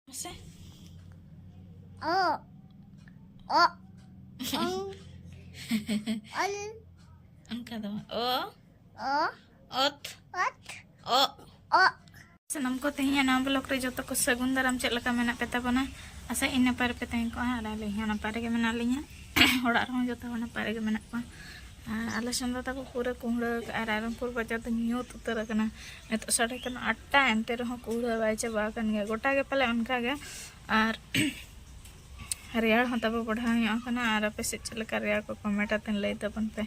No sé. Oh. Oh. Un. Un kado. Oh. Oh. Ot. Ot. Oh. Oh. ᱥᱟᱱᱟᱢ ᱠᱚ ᱛᱮᱦᱮᱧ ᱱᱟᱣᱟ blog ᱨᱮ ᱡᱚᱛᱚ ᱠᱚ ᱥᱟᱹᱜᱩᱱ ᱫᱟᱨᱟᱢ ᱪᱮᱫ ᱞᱮᱠᱟ ᱢᱮᱱᱟᱜ ᱯᱮ ᱛᱟᱵᱚᱱᱟ ᱟᱥᱟ ᱤᱧ ᱱᱟᱯᱟᱭ ᱨᱮᱯᱮ ᱛᱟᱦᱮᱸ ᱠᱚᱜᱼᱟ ᱟᱨ ᱟᱹᱞᱤᱧ ᱦᱚᱸ ᱱᱟᱯᱟᱭ ᱨᱮᱜᱮ ᱢᱮᱱᱟᱜ ᱞᱤᱧᱟ ᱚᱲᱟᱜ ᱨᱮᱦᱚᱸ ᱡᱚᱛᱚ ᱦᱚᱲ ᱱᱟᱯᱟᱭ ᱨᱮᱜᱮ ᱢᱮᱱᱟᱜ ᱠᱚᱣᱟ ᱟᱞᱮ ᱥᱮᱱ ᱫᱚ ᱛᱟᱠᱚ ᱯᱩᱨᱟᱹ ᱠᱩᱢᱲᱟᱹ ᱟᱠᱟᱫᱼᱟ ᱨᱟᱭᱨᱚᱝᱯᱩᱨ ᱵᱟᱡᱟᱨ ᱫᱚ ᱧᱩᱛ ᱩᱛᱟᱹᱨ ᱟᱠᱟᱱᱟ ᱱᱤᱛᱚᱜ ᱥᱟᱲᱮ ᱠᱟᱱᱟ ᱟᱴᱴᱟ ᱮᱱᱛᱮ ᱨᱮᱦᱚᱸ ᱠᱩᱢᱲᱟᱹ ᱵᱟᱭ ᱪᱟᱵᱟ ᱟᱠᱟᱱ ᱜᱮᱭᱟ ᱜᱚᱴᱟ ᱜᱮ ᱯᱟᱞᱮ ᱚᱱᱠᱟ ᱜᱮ ᱟᱨ ᱨᱮᱭᱟᱲ ᱦᱚᱸ ᱛᱟᱵᱚ ᱵᱟᱲᱦᱟᱣ ᱧᱚᱜ ᱟᱠᱟᱱᱟ ᱟᱨ ᱟᱯᱮ ᱥᱮᱫ ᱪᱮᱫ ᱞᱮᱠᱟ ᱨᱮᱭᱟᱲ ᱠᱚ ᱠᱚᱢᱮᱱᱴ ᱟᱛᱮᱱ ᱞᱟᱹᱭ ᱛᱟᱵᱚᱱ ᱯᱮ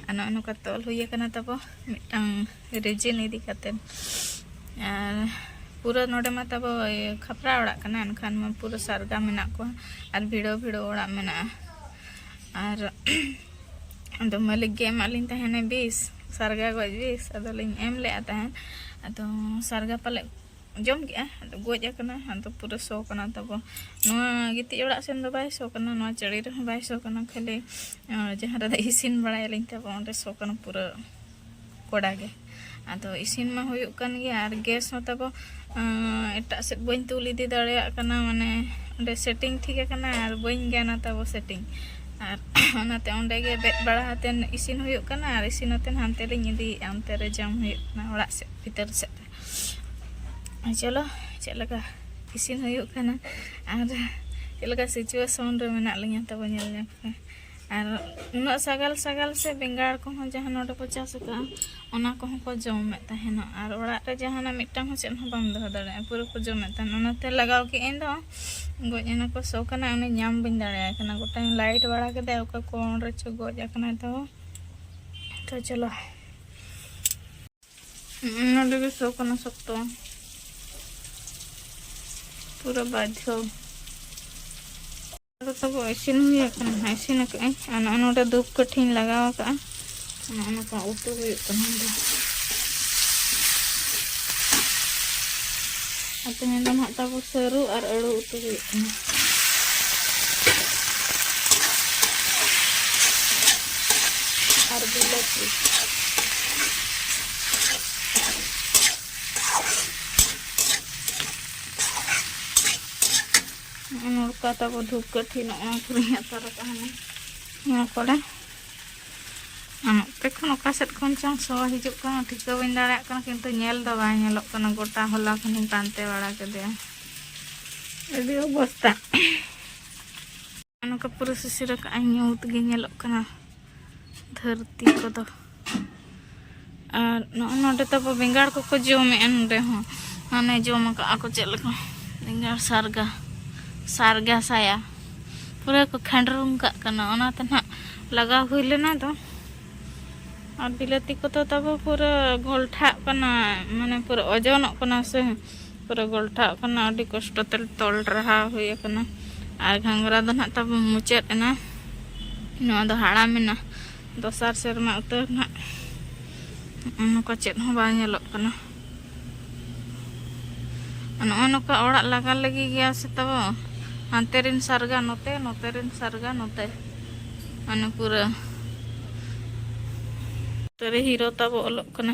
ᱟᱨ ᱱᱚᱜᱼᱚ ᱱᱚᱝᱠᱟ ᱛᱚᱞ ᱦᱩᱭ ᱟᱠᱟᱱᱟ ᱛᱟᱵᱚ ᱢᱤᱫᱴᱟᱝ ᱨᱤᱡᱤᱱ ᱤᱫᱤ ᱠᱟᱛᱮᱫ ᱟᱨ ᱯᱩᱨᱟᱹ ᱱᱚᱰᱮ ᱢᱟ ᱛᱟᱵᱚ ᱠᱷᱟᱯᱨᱟ ᱚᱲᱟᱜ ᱠᱟᱱᱟ ᱮᱱᱠᱷᱟᱱ ᱢᱟ ᱯᱩᱨᱟᱹ ᱥᱟᱨᱜᱟ ᱢᱮᱱᱟᱜ ᱠᱚᱣᱟ ᱟᱨ ᱵᱷᱤᱲᱟᱹᱣ ᱵᱷᱤᱲᱟᱹᱣ ᱚᱲᱟᱜ ᱢᱮᱱᱟᱜᱼᱟ ᱟᱨ ᱟᱫᱚ ᱢᱟᱹᱞᱤᱠ ᱜᱮ ᱮᱢᱟᱜ ᱞᱤᱧ ᱛᱟᱦᱮᱱᱮ ᱵᱤᱥ ᱥᱟᱨᱜᱟ ᱜᱚᱡ ᱵᱤᱥ ᱟᱫᱚ ᱞᱤᱧ ᱮᱢ ᱞᱮᱫᱼᱟ ᱛᱟᱦᱮᱱ ᱟᱫᱚ ᱥᱟᱨᱜᱟ ᱯᱟᱞᱮᱫ ᱡᱚᱢ ᱠᱮᱫᱼᱟ ᱟᱫᱚ ᱜᱚᱡ ᱟᱠᱟᱱᱟ ᱟᱫᱚ ᱯᱩᱨᱟᱹ ᱥᱚ ᱠᱟᱱᱟ ᱛᱟᱵᱚ ᱱᱚᱣᱟ ᱜᱤᱛᱤᱡ ᱚᱲᱟᱜ ᱥᱮᱱ ᱫᱚ ᱵᱟᱭ ᱥᱚ ᱠᱟᱱᱟ ᱱᱚᱣᱟ ᱪᱟᱹᱲᱤ ᱨᱮᱦᱚᱸ ᱵᱟᱭ ᱥᱚ ᱠᱟᱱᱟ ᱠᱷᱟᱹᱞᱤ ᱡᱟᱦᱟᱸ ᱨᱮᱫᱚ ᱤᱥᱤᱱ ᱵᱟᱲᱟᱭᱟᱞᱤᱧ ᱛᱟᱵᱚ ᱚᱸᱰᱮ ᱥᱚ ᱠᱟᱱᱟ ᱯᱩᱨᱟᱹ ᱠᱚᱲᱟ ᱜᱮ ᱟᱫᱚ ᱤᱥᱤᱱ ᱢᱟ ᱦᱩᱭᱩᱜ ᱠᱟᱱ ᱜᱮᱭᱟ ᱟᱨ ᱜᱮᱥ ᱦᱚᱸ ᱛᱟᱵᱚ ᱮᱴᱟᱜ ᱥᱮᱫ ᱵᱟᱹᱧ ᱛᱩᱞ ᱤᱫᱤ ᱫᱟᱲᱮᱭᱟᱜ ᱠᱟᱱᱟ ᱢᱟᱱᱮ ᱚᱸᱰᱮ ᱥᱮᱴᱤᱝ ᱴᱷᱤᱠ ᱟᱠᱟᱱᱟ ᱟᱨ ᱵᱟᱹᱧ ᱜᱟᱱᱟ ᱛᱟᱵᱚ ᱥᱮᱴᱤᱝ ᱟᱨ ᱚᱱᱟᱛᱮ ᱚᱸᱰᱮ ᱜᱮ ᱵᱮᱫ ᱵᱟᱲᱟ ᱦᱟᱛᱮᱱ ᱤᱥᱤᱱ ᱦᱩᱭᱩᱜ ᱠᱟᱱᱟ ᱟᱨ ᱤᱥᱤᱱ ᱦᱟᱛᱮᱱ ᱦᱟᱱᱛᱮ ᱞᱤᱧ ᱤᱫᱤᱭᱮᱫᱼᱟ ᱚᱱᱛᱮ ᱨᱮ ᱡᱚᱢ ᱦᱩᱭᱩᱜ ᱠᱟᱱᱟ ᱚᱲᱟᱜ ᱥᱮᱫ ᱵᱷᱤᱛᱟᱹᱨ ᱥᱮᱫ ᱨᱮ ᱪᱚᱞᱚ ᱪᱮᱫ ᱞᱮᱠᱟ ᱤᱥᱤᱱ ᱦᱩᱭᱩᱜ ᱠᱟᱱᱟ ᱟᱨ ᱪᱮᱫ ᱞᱮᱠᱟ ᱥᱤᱪᱩᱭᱮᱥᱚᱱ ᱨᱮ ᱢᱮᱱᱟᱜ ᱞᱤᱧᱟ ᱛᱟᱵᱚ ᱧᱮᱞ ᱧᱚᱜᱽ ᱯᱮ ᱟᱨ ᱩᱱᱟᱹᱜ ᱥᱟᱜᱟᱞ ᱥᱟᱜᱟᱞ ᱥᱮ ᱵᱮᱸᱜᱟᱲ ᱠᱚᱦᱚᱸ ᱡᱟᱦᱟᱸ ᱱᱚᱰᱮ ᱠᱚ ᱪᱟᱥ ᱟᱠᱟᱫᱼᱟ ᱚᱱᱟ ᱠᱚᱦᱚᱸ ᱠᱚ ᱡᱚᱢᱮᱫ ᱛᱟᱦᱮᱱᱟ ᱟᱨ ᱚᱲᱟᱜ ᱨᱮ ᱡᱟᱦᱟᱱᱟᱜ ᱢᱤᱫᱴᱟᱝ ᱦᱚᱸ ᱪᱮᱫ ᱦᱚᱸ ᱵᱟᱢ ᱫᱚᱦᱚ ᱫᱟᱲᱮᱭᱟᱜᱼᱟ ᱯᱩᱨᱟᱹ ᱠᱚ ᱡᱚᱢᱮᱫ ᱛᱟᱦᱮᱱᱟ ᱚᱱᱟᱛᱮ ᱞᱟᱜᱟᱣ ᱠᱮᱫ ᱟᱹᱧ ᱫᱚ ᱜᱚᱡ ᱮᱱᱟ ᱠᱚ ᱥᱚ ᱠᱟᱱᱟ ᱩᱱᱤ ᱧᱟᱢ ᱵᱟᱹᱧ ᱫᱟᱲᱮᱭᱟᱭ ᱠᱟᱱᱟ ᱜᱚᱴᱟᱧ ᱞᱟᱭᱤᱴ ᱵᱟᱲᱟ ᱠᱮᱫᱟ ᱚᱠᱟ ᱠᱚ ᱚᱸᱰᱮ ᱪᱚ ᱜᱚᱡ ᱟᱠᱟᱱᱟᱭ ᱛᱚ ᱛᱚ ᱪᱚᱞᱚ ᱱᱚᱰᱮ ᱜᱮ ᱥᱚ ᱠᱟᱱᱟ ᱥᱚᱠᱛᱚ ᱯᱩᱨᱟᱹ ᱵᱟᱫᱷᱚ ᱫᱚ ᱛᱟᱵᱚ ᱤᱥᱤᱱ ᱦᱩᱭ ᱟᱠᱟᱱᱟ ᱦᱟᱸᱜ ᱤᱥᱤᱱ ᱟᱠᱟᱫ ᱟᱹᱧ ᱟᱨ ᱱᱚᱜᱼᱚ ᱱᱚᱰᱮ ᱫᱩᱯ ᱠᱟᱹᱴᱷᱤᱧ ᱞᱟᱜᱟᱣ ᱟᱠᱟᱫᱼᱟ ᱱᱚᱜᱼᱚ ᱱᱚᱝᱠᱟ ᱩᱛᱩ ᱦᱩᱭᱩᱜ ᱠᱟᱱᱟ ᱫᱚ ᱟᱨ ᱛᱮᱦᱮᱧ ᱫᱚ ᱱᱟᱦᱟᱜ ᱛᱟᱵᱚ ᱥᱟᱹᱨᱩ ᱟᱨ ᱟᱹᱲᱩ ᱩᱛᱩ ᱦᱩᱭᱩᱜ ᱠᱟᱱᱟ ᱟᱨ ᱵᱤᱞᱟᱹᱛᱤ ᱱᱚᱜᱼᱚ ᱱᱚᱝᱠᱟ ᱛᱟᱵᱚ ᱫᱷᱩᱯ ᱠᱟᱹᱴᱷᱤ ᱱᱚᱜᱼᱚ ᱠᱚᱨᱮᱧ ᱟᱛᱟᱨ ᱟᱠᱟᱫᱼᱟ ᱱᱚᱣᱟ ᱠᱚᱨᱮ ᱱᱚᱛᱮ ᱠᱷᱚᱱ ᱚᱠᱟ ᱥᱮᱫ ᱠᱷᱚᱱ ᱪᱚᱝ ᱥᱚ ᱦᱤᱡᱩᱜ ᱠᱟᱱᱟ ᱴᱷᱤᱠᱟᱹ ᱵᱟᱹᱧ ᱫᱟᱲᱮᱭᱟᱜ ᱠᱟᱱᱟ ᱠᱤᱱᱛᱩ ᱧᱮᱞ ᱫᱚ ᱵᱟᱭ ᱧᱮᱞᱚᱜ ᱠᱟᱱᱟ ᱜᱚᱴᱟ ᱦᱚᱞᱟ ᱠᱷᱚᱱᱤᱧ ᱯᱟᱱᱛᱮ ᱵᱟᱲᱟ ᱠᱮᱫᱮᱭᱟ ᱟᱹᱰᱤ ᱚᱵᱚᱥᱛᱟ ᱱᱚᱝᱠᱟ ᱯᱩᱨᱟᱹ ᱥᱤᱥᱤᱨ ᱟᱠᱟᱫᱼᱟᱭ ᱧᱩᱛ ᱜᱮ ᱧᱮᱞᱚᱜ ᱠᱟᱱᱟ ᱫᱷᱟᱹᱨᱛᱤ ᱠᱚᱫᱚ ᱟᱨ ᱱᱚᱜᱼᱚ ᱱᱚᱰᱮ ᱛᱟᱵᱚ ᱵᱮᱸᱜᱟᱲ ᱠᱚᱠᱚ ᱡᱚᱢᱮᱜᱼᱟ ᱱᱚᱰᱮ ᱦᱚᱸ ᱢᱟᱱᱮ ᱡᱚᱢ ᱟᱠᱟᱜᱼᱟ ᱠᱚ ᱪᱮᱫ ᱞᱮᱠᱟ ᱵᱮᱸᱜᱟᱲ ᱥᱟᱨᱜᱟ ᱥᱟᱨᱜᱟ ᱥᱟᱭᱟ ᱯᱩᱨᱟᱹ ᱠᱚ ᱠᱷᱟᱸᱰᱨᱩᱢ ᱠᱟᱜ ᱠᱟᱱᱟ ᱚᱱᱟᱛᱮ ᱱᱟᱜ ᱞᱟᱜᱟᱣ ᱦᱩᱭ ᱞᱮᱱᱟ ᱫᱚ ᱟᱨ ᱵᱤᱞᱟᱹᱛᱤ ᱠᱚᱫᱚ ᱛᱟᱵᱚ ᱯᱩᱨᱟᱹ ᱜᱷᱚᱞᱴᱷᱟᱜ ᱠᱟᱱᱟ ᱢᱟᱱᱮ ᱯᱩᱨᱟᱹ ᱳᱡᱚᱱᱚᱜ ᱠᱟᱱᱟ ᱥᱮ ᱯᱩᱨᱟᱹ ᱜᱚᱞᱴᱷᱟᱜ ᱠᱟᱱᱟ ᱟᱹᱰᱤ ᱠᱚᱥᱴᱚ ᱛᱮ ᱛᱚᱞ ᱨᱟᱦᱟ ᱦᱩᱭ ᱟᱠᱟᱱᱟ ᱟᱨ ᱜᱷᱟᱸᱜᱽᱨᱟ ᱫᱚ ᱱᱟᱦᱟᱜ ᱛᱟᱵᱚ ᱢᱩᱪᱟᱹᱫ ᱮᱱᱟ ᱱᱚᱣᱟ ᱫᱚ ᱦᱟᱲᱟᱢ ᱮᱱᱟ ᱫᱚᱥᱟᱨ ᱥᱮᱨᱢᱟ ᱩᱛᱟᱹᱨ ᱱᱟᱦᱟᱜ ᱱᱚᱝᱠᱟ ᱪᱮᱫ ᱦᱚᱸ ᱵᱟᱝ ᱧᱮᱞᱚᱜ ᱠᱟᱱᱟ ᱱᱚᱜᱼᱚ ᱱᱚᱝᱠᱟ ᱚᱲᱟᱜ ᱞᱟᱜᱟ ᱞᱟᱹᱜᱤᱫ ᱜᱮᱭᱟ ᱥᱮ ᱛᱟᱵᱚ ᱦᱟᱱᱛᱮ ᱨᱮᱱ ᱥᱟᱨᱜᱟ ᱱᱚᱛᱮ ᱱᱚᱛᱮ ᱨᱮᱱ ᱥᱟᱨᱜᱟ ᱱᱚᱛᱮ ᱢᱟᱱᱮ ᱯᱩᱨᱟᱹ ᱛᱟᱹᱨᱮ ᱦᱤᱨᱳ ᱛᱟᱵᱚ ᱚᱞᱚᱜ ᱠᱟᱱᱟ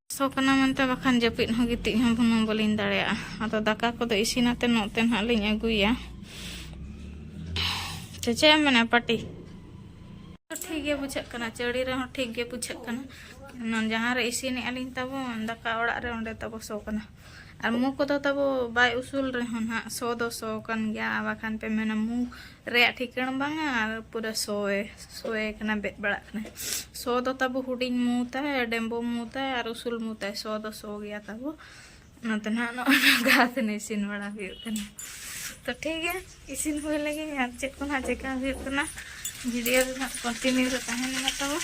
ᱥᱚ ᱠᱟᱱᱟ ᱢᱮᱱᱛᱮ ᱵᱟᱠᱷᱟᱱ ᱡᱟᱹᱯᱤᱫ ᱦᱚᱸ ᱜᱤᱛᱤᱡ ᱦᱚᱸ ᱵᱩᱱᱩᱢ ᱵᱟᱹᱞᱤᱧ ᱫᱟᱲᱮᱭᱟᱜᱼᱟ ᱟᱫᱚ ᱫᱟᱠᱟ ᱠᱚᱫᱚ ᱤᱥᱤᱱᱟᱛᱮ ᱱᱚᱛᱮ ᱱᱟᱦᱟᱜ ᱞᱤᱧ ᱟᱹᱜᱩᱭᱟ ᱥᱮ ᱪᱮᱫ ᱮᱢ ᱢᱮᱱᱟ ᱯᱟᱴᱤ ᱴᱷᱤᱠ ᱜᱮ ᱵᱩᱡᱷᱟᱹᱜ ᱠᱟᱱᱟ ᱪᱟᱹᱲᱤ ᱨᱮᱦᱚᱸ ᱴᱷᱤᱠ ᱜᱮ ᱵᱩᱡᱷᱟᱹᱜ ᱠᱟᱱᱟ ᱡᱟᱦᱟᱸ ᱨᱮ ᱤᱥᱤᱱᱮᱜᱼᱟ ᱞᱤᱧ ᱛᱟᱵᱚᱱ ᱫᱟᱠᱟ ᱚᱲᱟᱜ ᱨᱮ ᱚᱸᱰᱮ ᱛᱟᱵᱚ ᱥᱚ ᱠᱟᱱᱟ ᱟᱨ ᱢᱩ ᱠᱚᱫᱚ ᱛᱟᱵᱚ ᱵᱟᱭ ᱩᱥᱩᱞ ᱨᱮᱦᱚᱸ ᱱᱟᱜ ᱥᱚ ᱫᱚ ᱥᱚ ᱠᱟᱱ ᱜᱮᱭᱟ ᱟᱨ ᱵᱟᱠᱷᱟᱱ ᱯᱮ ᱢᱮᱱᱟ ᱢᱩ ᱨᱮᱭᱟᱜ ᱴᱷᱤᱠᱟᱹᱬ ᱵᱟᱝᱟ ᱟᱨ ᱯᱩᱨᱟᱹ ᱥᱚᱭᱮ ᱥᱚᱭᱮ ᱠᱟᱱᱟ ᱵᱮᱫ ᱵᱟᱲᱟᱜ ᱠᱟᱱᱟ ᱥᱚ ᱫᱚ ᱛᱟᱵᱚ ᱦᱩᱰᱤᱧ ᱢᱩ ᱛᱟᱭ ᱰᱮᱢᱵᱚ ᱢᱩ ᱛᱟᱭ ᱟᱨ ᱩᱥᱩᱞ ᱢᱩ ᱛᱟᱭ ᱥᱚ ᱫᱚ ᱥᱚ ᱜᱮᱭᱟ ᱛᱟᱵᱚ ᱚᱱᱟᱛᱮ ᱱᱟᱜ ᱱᱚᱜᱼᱚᱭ ᱱᱚᱝᱠᱟ ᱟᱛᱮᱱ ᱤᱥᱤᱱ ᱵᱟᱲᱟ ᱦᱩᱭᱩᱜ ᱠᱟᱱᱟ ᱛᱚ ᱴᱷᱤᱠ ᱜᱮᱭᱟ ᱤᱥᱤᱱ ᱦᱩᱭ ᱞᱮᱜᱮ ᱟᱨ ᱪᱮᱫ ᱠᱚ ᱱᱟᱜ ᱪᱮᱠᱟ ᱦᱩᱭᱩᱜ ᱠᱟᱱᱟ ᱵᱷᱤᱰᱤᱭᱳ ᱨᱮ ᱱᱟᱜ ᱠᱚᱱᱴᱤᱱᱤᱭᱩ ᱨᱮ ᱛᱟᱦᱮᱱ ᱢᱟ ᱛᱟᱵᱚ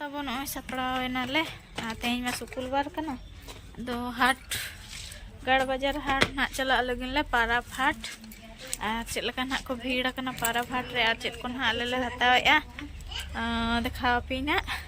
ᱟᱵᱚ ᱱᱚᱜᱼᱚᱭ ᱥᱟᱯᱲᱟᱣ ᱮᱱᱟᱞᱮ ᱟᱨ ᱛᱮᱦᱮᱧ ᱢᱟ ᱥᱩᱠᱩᱞ ᱵᱟᱨ ᱠᱟᱱᱟ ᱟᱫᱚ ᱦᱟᱴ ᱜᱟᱲ ᱵᱟᱡᱟᱨ ᱦᱟᱴ ᱱᱟᱜ ᱪᱟᱞᱟᱜ ᱞᱟᱹᱜᱤᱫ ᱞᱮ ᱯᱟᱨᱟᱵᱽ ᱦᱟᱴ ᱟᱨ ᱪᱮᱫ ᱞᱮᱠᱟ ᱱᱟᱜ ᱠᱚ ᱵᱷᱤᱲ ᱟᱠᱟᱱᱟ ᱯᱟᱨᱟᱵᱽ ᱦᱟᱴ ᱨᱮ ᱟᱨ ᱪᱮᱫ ᱠᱚ ᱱᱟᱜ ᱟᱞᱮ ᱞᱮ ᱦᱟᱛᱟᱣᱮᱜᱼᱟ ᱫᱮᱠᱷᱟᱣ ᱟᱯᱮᱭᱟᱹᱧ ᱱᱟᱜ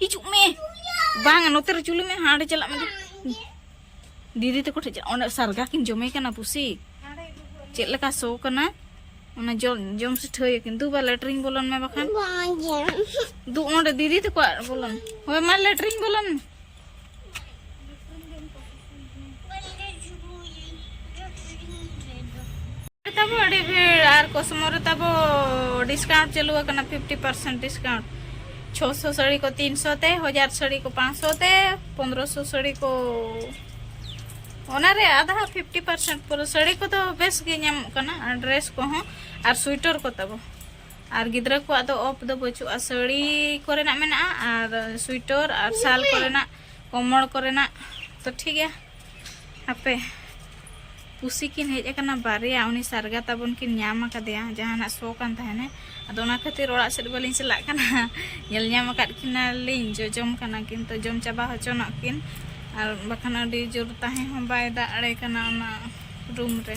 ᱦᱤᱡᱩᱜ ᱢᱮ ᱵᱟᱝ ᱱᱚᱛᱮ ᱨᱮ ᱪᱩᱞᱩ ᱢᱮ ᱦᱟᱸᱰᱮ ᱪᱟᱞᱟᱜ ᱢᱮ ᱫᱤᱫᱤ ᱛᱟᱠᱚ ᱴᱷᱮᱱ ᱚᱸᱰᱮ ᱥᱟᱨᱜᱟ ᱠᱤᱱ ᱡᱚᱢᱮ ᱠᱟᱱᱟ ᱯᱩᱥᱤ ᱪᱮᱫ ᱞᱮᱠᱟ ᱥᱚ ᱠᱟᱱᱟ ᱚᱱᱟ ᱡᱚᱢ ᱡᱚᱢ ᱥᱤᱴᱷᱟᱹᱭ ᱠᱤᱱ ᱫᱩ ᱵᱟ ᱞᱮᱴᱨᱤᱝ ᱵᱚᱞᱚᱱ ᱢᱮ ᱵᱟᱠᱷᱟᱱ ᱫᱩ ᱚᱸᱰᱮ ᱫᱤᱫᱤ ᱛᱟᱠᱚ ᱵᱚᱞᱚᱱ ᱦᱳᱭ ᱢᱟ ᱞᱮᱴᱨᱤᱝ ᱵᱚᱞᱚᱱ ᱛᱟᱵᱚ ᱟᱹᱰᱤ ᱵᱷᱤᱲ ᱟᱨ ᱠᱚᱥᱢᱚ ᱨᱮ ᱛᱟᱵᱚ ᱰᱤᱥᱠᱟᱣᱩᱱᱴ ᱪᱟᱹᱞᱩ ᱟᱠᱟᱱᱟ ᱯᱷᱤᱯᱴᱤ ᱯᱟᱨᱥᱮᱱᱴ ᱰᱤᱥᱠᱟᱣᱩᱱᱴ ᱪᱷᱚ ᱥᱚ ᱥᱟᱹᱲᱤ ᱠᱚ ᱛᱤᱱ ᱥᱚ ᱛᱮ ᱦᱟᱡᱟᱨ ᱥᱟᱹᱲᱤ ᱠᱚ ᱯᱟᱸᱪ ᱥᱚ ᱛᱮ ᱯᱚᱱᱨᱚ ᱥᱚ ᱥᱟᱹᱲᱤ ᱠᱚ ᱚᱱᱟᱨᱮ ᱟᱫᱷᱟ ᱯᱷᱤᱯᱴᱤ ᱯᱟᱨᱥᱮᱱᱴ ᱯᱩᱨᱟᱹ ᱥᱟᱹᱲᱤ ᱠᱚᱫᱚ ᱵᱮᱥ ᱜᱮ ᱧᱟᱢᱚᱜ ᱠᱟᱱᱟ ᱟᱨ ᱰᱨᱮᱥ ᱠᱚᱦᱚᱸ ᱟᱨ ᱥᱩᱭᱴᱟᱨ ᱠᱚ ᱛᱟᱵᱚ ᱟᱨ ᱜᱤᱫᱽᱨᱟᱹ ᱠᱚᱣᱟᱜ ᱫᱚ ᱚᱯᱷ ᱫᱚ ᱵᱟᱹᱪᱩᱜᱼᱟ ᱥᱟᱹᱲᱤ ᱠᱚᱨᱮᱱᱟᱜ ᱢᱮᱱᱟᱜᱼᱟ ᱟᱨ ᱥᱩᱭᱴᱚᱨ ᱟᱨ ᱥᱟᱞ ᱠᱚᱨᱮᱱᱟᱜ ᱠᱚᱢᱚᱲ ᱠᱚᱨᱮᱱᱟᱜ ᱛᱚ ᱴᱷᱤᱠ ᱜᱮᱭᱟ ᱦᱟᱯᱮ ᱯᱩᱥᱤ ᱠᱤᱱ ᱦᱮᱡ ᱟᱠᱟᱱᱟ ᱵᱟᱨᱭᱟ ᱩᱱᱤ ᱥᱟᱨᱜᱟ ᱛᱟᱵᱚᱱ ᱠᱤᱱ ᱧᱟᱢ ᱟᱠᱟᱫᱮᱭᱟ ᱡᱟᱦᱟᱱᱟᱜ ᱥᱚ ᱠᱟᱱ ᱛᱟᱦᱮᱱᱟ ᱟᱫᱚ ᱚᱱᱟ ᱠᱷᱟᱹᱛᱤᱨ ᱚᱲᱟᱜ ᱥᱮᱫ ᱵᱟᱹᱞᱤᱧ ᱪᱟᱞᱟᱜ ᱠᱟᱱᱟ ᱧᱮᱞ ᱧᱟᱢ ᱟᱠᱟᱫ ᱠᱤᱱᱟᱞᱤᱧ ᱡᱚᱡᱚᱢ ᱠᱟᱱᱟ ᱠᱤᱱ ᱛᱚ ᱡᱚᱢ ᱪᱟᱵᱟ ᱦᱚᱪᱚᱱᱚᱜ ᱠᱤᱱ ᱟᱨ ᱵᱟᱠᱷᱟᱱ ᱟᱹᱰᱤ ᱡᱳᱨ ᱛᱟᱦᱮᱸ ᱦᱚᱸ ᱵᱟᱭ ᱫᱟᱲᱮ ᱠᱟᱱᱟ ᱚᱱᱟ ᱨᱩᱢ ᱨᱮ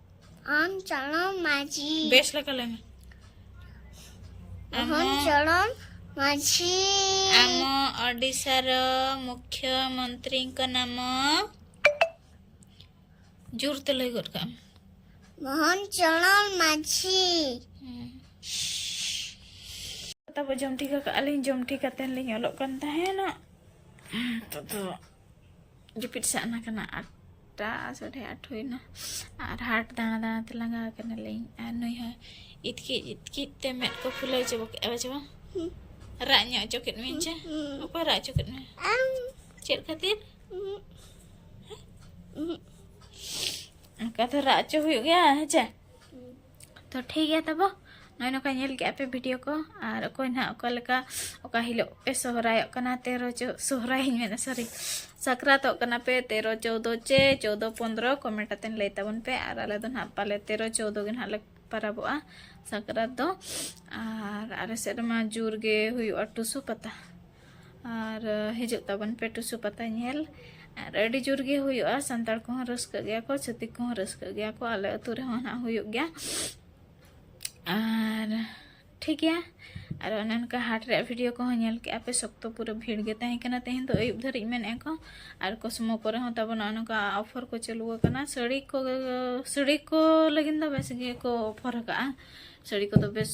ᱟᱢ ᱪᱚᱲᱚᱢ ᱢᱟᱹᱡᱷᱤ ᱵᱮᱥ ᱞᱮᱠᱟ ᱞᱟᱹᱭ ᱢᱮ ᱢᱳᱦᱚᱱ ᱪᱚᱲᱚᱢ ᱢᱟᱹᱡᱷᱤ ᱟᱢ ᱳᱰᱤᱥᱟᱨ ᱢᱩᱠᱷᱭᱚ ᱢᱚᱱᱛᱨᱤ ᱠᱚ ᱱᱟᱢ ᱡᱳᱨ ᱛᱮ ᱞᱟᱹᱭ ᱜᱚᱫ ᱠᱟᱜ ᱢᱳᱦᱚᱱ ᱪᱚᱲᱚᱢ ᱢᱟᱹᱡᱷᱤ ᱛᱟᱵᱚ ᱡᱚᱢ ᱴᱷᱤᱠ ᱠᱟᱜᱼᱟ ᱞᱤᱧ ᱡᱚᱢ ᱴᱷᱤᱠ ᱠᱟᱛᱮ ᱞᱤᱧ ᱚᱞᱚᱜ ᱠᱟᱱ ᱛᱟᱦᱮᱱᱟ ᱛᱚ ᱡᱟᱹᱯᱤᱫ ᱥᱟᱜᱱᱟ ᱠᱟᱱᱟ ᱟᱴᱴᱟ ᱥᱟᱲᱮ ᱟᱴ ᱦᱩᱭᱱᱟ ᱟᱨ ᱦᱟᱴ ᱫᱟᱬᱟ ᱫᱟᱬᱟ ᱛᱮ ᱞᱟᱸᱜᱟ ᱟᱠᱟᱱᱟᱞᱤᱧ ᱟᱨ ᱱᱩᱭ ᱦᱚᱸ ᱤᱛᱠᱤᱡ ᱤᱛᱠᱤᱡ ᱛᱮ ᱢᱮᱫ ᱠᱚ ᱯᱷᱩᱞᱟᱹᱣ ᱪᱟᱵᱟ ᱠᱮᱫᱼᱟ ᱵᱟᱪᱮ ᱵᱟᱝ ᱨᱟᱜ ᱧᱚᱜ ᱚᱪᱚ ᱠᱮᱫ ᱢᱮᱭᱟ ᱪᱮ ᱚᱠᱚᱭ ᱨᱟᱜ ᱚᱪᱚ ᱠᱮᱫ ᱢᱮᱭᱟ ᱪᱮᱫ ᱠᱷᱟᱹᱛᱤᱨ ᱚᱱᱠᱟ ᱫᱚ ᱨᱟᱜ ᱚᱪᱚ ᱦᱩᱭᱩᱜ ᱜᱮᱭᱟ ᱦᱮᱸ ᱪᱮ ᱛᱚ ᱴᱷᱤᱠ ᱜᱮᱭᱟ ᱛᱟᱵᱚ ᱱᱚᱜᱼᱚᱭ ᱱᱚᱝᱠᱟ ᱧᱮᱞ ᱠᱮᱫᱼᱟ ᱯᱮ ᱵᱷᱤᱰᱤᱭᱳ ᱠᱚ ᱟᱨ ᱚᱠᱚᱭ ᱱᱟᱦᱟᱜ ᱚᱠᱟ ᱞᱮᱠᱟ ᱚᱠᱟ ᱦᱤᱞᱳᱜ ᱯᱮ ᱥᱚᱦᱨᱟᱭᱚᱜ ᱠᱟᱱᱟ ᱛᱮᱨᱚ ᱪᱚ ᱥᱚᱦᱨᱟᱭᱤᱧ ᱢᱮᱱᱟ ᱥᱚᱨᱤ ᱥᱟᱠᱨᱟᱛᱚᱜ ᱠᱟᱱᱟ ᱯᱮ ᱛᱮᱨᱚ ᱪᱳᱫᱚ ᱪᱮ ᱪᱳᱫᱚ ᱯᱚᱱᱫᱨᱚ ᱠᱚᱢᱮᱱᱴ ᱟᱛᱮᱱ ᱞᱟᱹᱭ ᱛᱟᱵᱚᱱ ᱯᱮ ᱟᱨ ᱟᱞᱮ ᱫᱚ ᱱᱟᱦᱟᱜ ᱯᱟᱞᱮ ᱛᱮᱨᱚ ᱪᱳᱫᱚ ᱜᱮ ᱱᱟᱦᱟᱜ ᱞᱮ ᱯᱟᱨᱟᱵᱚᱜᱼᱟ ᱥᱟᱠᱨᱟᱛ ᱫᱚ ᱟᱨ ᱟᱞᱮ ᱥᱮᱫ ᱨᱮᱢᱟ ᱡᱳᱨ ᱜᱮ ᱦᱩᱭᱩᱜᱼᱟ ᱴᱩᱥᱩ ᱯᱟᱛᱟ ᱟᱨ ᱦᱤᱡᱩᱜ ᱛᱟᱵᱚᱱ ᱯᱮ ᱴᱩᱥᱩ ᱯᱟᱛᱟ ᱧᱮᱞ ᱟᱨ ᱟᱹᱰᱤ ᱡᱳᱨ ᱜᱮ ᱦᱩᱭᱩᱜᱼᱟ ᱥᱟᱱᱛᱟᱲ ᱠᱚᱦᱚᱸ ᱨᱟᱹᱥᱠᱟᱹᱜ ᱜᱮᱭᱟ ᱠᱚ ᱪᱷᱟᱹᱛᱤᱠ ᱠᱚᱦᱚᱸ ᱨᱟᱹᱥᱠᱟᱹᱜ ᱜᱮᱭᱟ ᱠᱚ ᱟᱞᱮ ᱟᱹᱛᱩ ᱨᱮᱦᱚᱸ ᱱᱟᱜ ᱦᱩᱭᱩᱜ ᱜᱮᱭᱟ ᱟᱨ ᱴᱷᱤᱠ ᱜᱮᱭᱟ ᱟᱨ ᱚᱱᱮ ᱚᱱᱠᱟ ᱦᱟᱴ ᱨᱮᱭᱟᱜ ᱵᱷᱤᱰᱤᱭᱳ ᱠᱚᱦᱚᱸ ᱧᱮᱞ ᱠᱮᱜᱼᱟ ᱯᱮ ᱥᱚᱠᱛᱚ ᱯᱩᱨᱟᱹ ᱵᱷᱤᱲ ᱜᱮ ᱛᱟᱦᱮᱸ ᱠᱟᱱᱟ ᱛᱮᱦᱮᱧ ᱫᱚ ᱟᱹᱭᱩᱵ ᱫᱷᱟᱹᱨᱤᱡ ᱢᱮᱱᱮᱜᱼᱟ ᱠᱚ ᱟᱨ ᱠᱚᱥᱢᱚ ᱠᱚᱨᱮ ᱦᱚᱸ ᱛᱟᱵᱚᱱ ᱚᱱᱮ ᱚᱱᱠᱟ ᱚᱯᱷᱟᱨ ᱠᱚ ᱪᱟᱹᱞᱩ ᱟᱠᱟᱱᱟ ᱥᱟᱹᱲᱤ ᱠᱚ ᱥᱟᱹᱲᱤ ᱠᱚ ᱞᱟᱹᱜᱤᱫ ᱫᱚ ᱵᱮᱥ ᱜᱮᱠᱚ ᱚᱯᱷᱟᱨ ᱟᱠᱟᱜᱼᱟ ᱥᱟᱹᱲᱤ ᱠᱚᱫᱚ ᱵᱮᱥ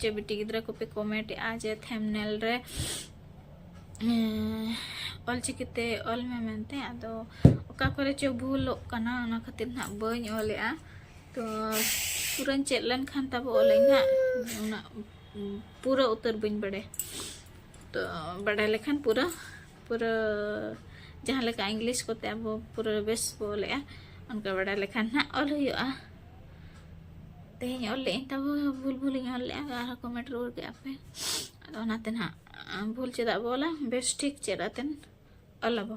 ᱪᱮᱫ ᱵᱤᱴᱤ ᱜᱤᱫᱽᱨᱟᱹ ᱠᱚᱯᱮ ᱠᱚᱢᱮᱱᱴ ᱮᱜᱼᱟ ᱡᱮ ᱛᱷᱮᱢᱱᱮᱞ ᱨᱮ ᱚᱞᱪᱤᱠᱤᱛᱮ ᱚᱞ ᱢᱮ ᱢᱮᱱᱛᱮ ᱟᱫᱚ ᱚᱠᱟ ᱠᱚᱨᱮ ᱪᱚ ᱵᱷᱩᱞᱚᱜ ᱠᱟᱱᱟ ᱚᱱᱟ ᱠᱷᱟᱹᱛᱤᱨ ᱱᱟᱜ ᱵᱟᱹᱧ ᱚᱞᱮᱜᱼᱟ ᱛᱚ ᱯᱩᱨᱟᱹᱧ ᱪᱮᱫ ᱞᱮᱱᱠᱷᱟᱱ ᱛᱟᱵᱚ ᱚᱞᱟᱹᱧ ᱱᱟᱜ ᱚᱱᱟ ᱯᱩᱨᱟᱹ ᱩᱛᱟᱹᱨ ᱵᱟᱹᱧ ᱵᱟᱲᱟᱭᱟ ᱛᱚ ᱵᱟᱰᱟᱭ ᱞᱮᱠᱷᱟᱱ ᱯᱩᱨᱟᱹ ᱯᱩᱨᱟᱹ ᱡᱟᱦᱟᱸ ᱞᱮᱠᱟ ᱤᱝᱞᱤᱥ ᱠᱚᱛᱮ ᱟᱵᱚ ᱯᱩᱨᱟᱹ ᱵᱮᱥ ᱵᱚ ᱚᱞᱮᱜᱼᱟ ᱚᱱᱠᱟ ᱵᱟᱰᱟᱭ ᱞᱮᱠᱷᱟᱱ ᱦᱟᱸᱜ ᱚᱞ ᱦᱩᱭᱩᱜᱼᱟ ᱛᱮᱦᱮᱧ ᱚᱞ ᱞᱮᱜᱼᱟᱹᱧ ᱛᱟᱵᱚ ᱵᱷᱩᱞ ᱵᱷᱩᱞᱤᱧ ᱚᱞ ᱞᱮᱜᱼᱟ ᱟᱨᱦᱚᱸ ᱠᱚᱢᱮᱱᱴ ᱨᱩᱣᱟᱹᱲ ᱠᱮᱜᱼᱟ ᱯᱮ ᱟᱫᱚ ᱚᱱᱟᱛᱮ ᱱᱟᱦᱟᱜ ᱵᱷᱩᱞ ᱪᱮᱫᱟᱜ ᱵᱚ ᱚᱞᱟ ᱵᱮᱥ ᱴᱷᱤᱠ ᱪᱮᱫ ᱟᱛᱮᱱ ᱚᱞᱟᱵᱚ